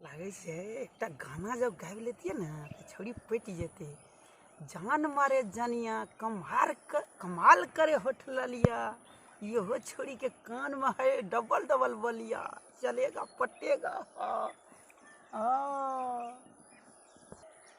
लागै छै एकटा गाना जब गाबि लेतियै ने तऽ छौड़ी पटि जेतै जान मारे जनिया कमाल क- कमाल करे होठ ललिया इहो छौड़ी के कान में है डबल डबल बलिया चलेगा पटेगा हाँ हाँ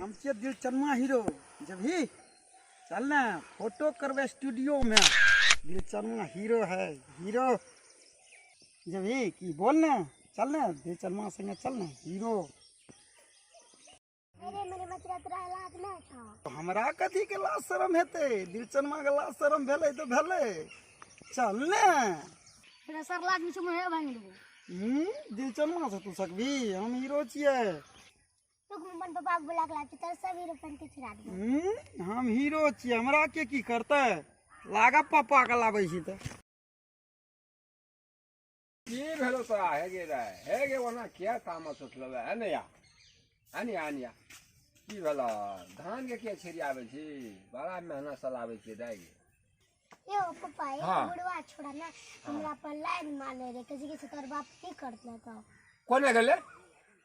हम छियै दिल चनमा हीरो जबही चल ने फोटो करबै स्टूडियोमे दिल चनमा हीरो है हीरो जबही की बोल ने चल ने दिल चनमा सङ्गे चल ने हीरो अरे मेरे मचरा तोरा लाज नहि छौ तो हमरा कथी के लाज शरम हेतै दिलचनमा के लाज शरम भेलै तो भेलै चल ने तोरा सर लाज में छौ मुहे भांग देबो हम्म, दिलचनमा से तू सकबी हम हीरो छियै तू घुमन बाबा के बुला के लाज छौ तोरा सब हीरो बन के छिड़ा देबो हम्म, हम हीरो छियै हमरा के की करतै लागा पप्पा के लाबै छी तऽ की भेलो तोरा हे गे रे हे गे ओना किया तामस उठलो है ने या आनी आनी या की भेलो धान के के छिड़ियाबे छी बड़ा मेहनत से लाबे छी दाई गे यो पप्पा एक हाँ। बुढ़वा छोड़ा ना हमरा पर लाइन मारले रे किसी किसी कर बाप की करते तो कोने गेले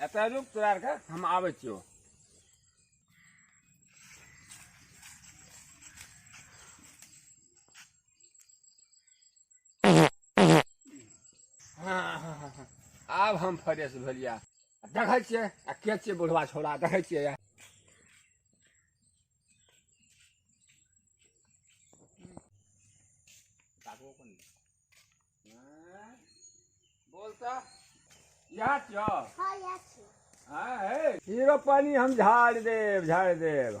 एतऽ रुक तोरा आरके हम आबै छियौ आब हम फ्रेश भेलिया देखै छियै आ के छियै बुढ़वा छोड़ा देखै छियै या इएह छियौ हाँ इएह छियौ हाँ हे हीरो पानी हम झाड़ि देब झाड़ि देब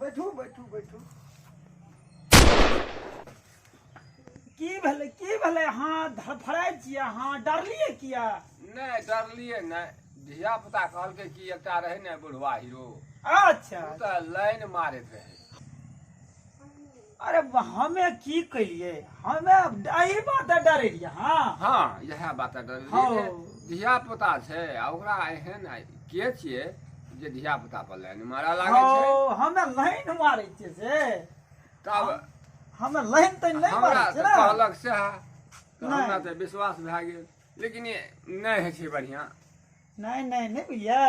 बैठू बैठू बैठू की भेलै की भेलै अहाँ धड़फड़ाइ छियै अहाँ डरलियै किया नहि डरलियै नहि धिया पुता कहलकै कि एकटा रहै ने बुढ़वा हीरो अच्छा ओ तऽ लाइन मारैत रहै अरे बा- हमे की कैलिए हमे एही बात डरे रहिए हाँ हाँ इएह बात हँ। धिया पुता छै आ ओकरा एहन आ- के छियै जे धिया पुता पर लाइन मारा लागै छै हौ, हमे लाइन मारै छियै से तब हमे लाइन तऽ नहि हमरा मारै तऽ छियै ने कहलक सएह तऽ नहि। हमरा तऽ विश्वास भए गेल लेकिन ई नहि होइ छै बढ़िआँ नहि नहि नहि बुझलियै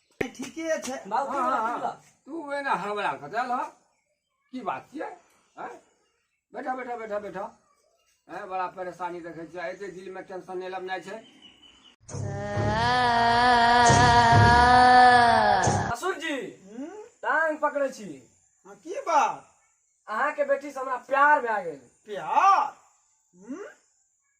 ठीके छै बाबू की बात की बात तू एना हड़बड़ाल कतल ह की बात छियै हैं बैठा बैठा बैठा बैठा हैं बड़ा परेशानी रखे छियै एते दिल में टेंशन नहीं लब नहीं छै ससुर जी हम्म? टांग पकड़े छी हाँ, की बात अहाँ के बेटी से हमरा प्यार भए गेल प्यार हम्म?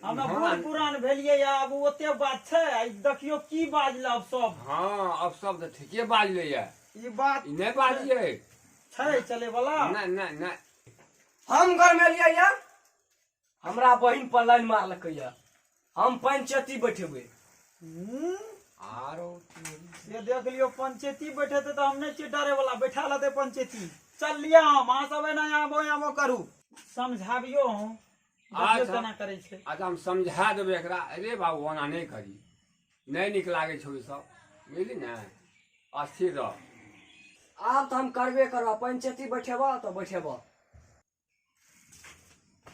हमे बूढ़ पुरान भेलियै या आब ओते बात छै आ ई देखियौ की बाजल आब सब हँ अब सब तऽ ठीके बाजले ये ई बात ई नहि बाजिए छै चले वाला नहि नहि नहि हम घर में लिया या हमरा बहिन पर लाइन मारलकै या हम पंचती बैठेबै हूँ, आरो से देख लियौ पंचेती बैठेते तऽ हम नहि छियै डरे वाला बैठा लेते पंचेती चल लिया हम अहाँ सब एना आबो आबो करू समझाबियो हम देखियौ अच्छा। केना करै छै अच्छा हम समझा देबै एकरा अरे बाबू ओना नहि करी नहि नीक लागै छौ ई सब बुझली ने अस्थिर रह आब तऽ हम करबे करबह पंचैती बैठेबह तऽ बैठेबह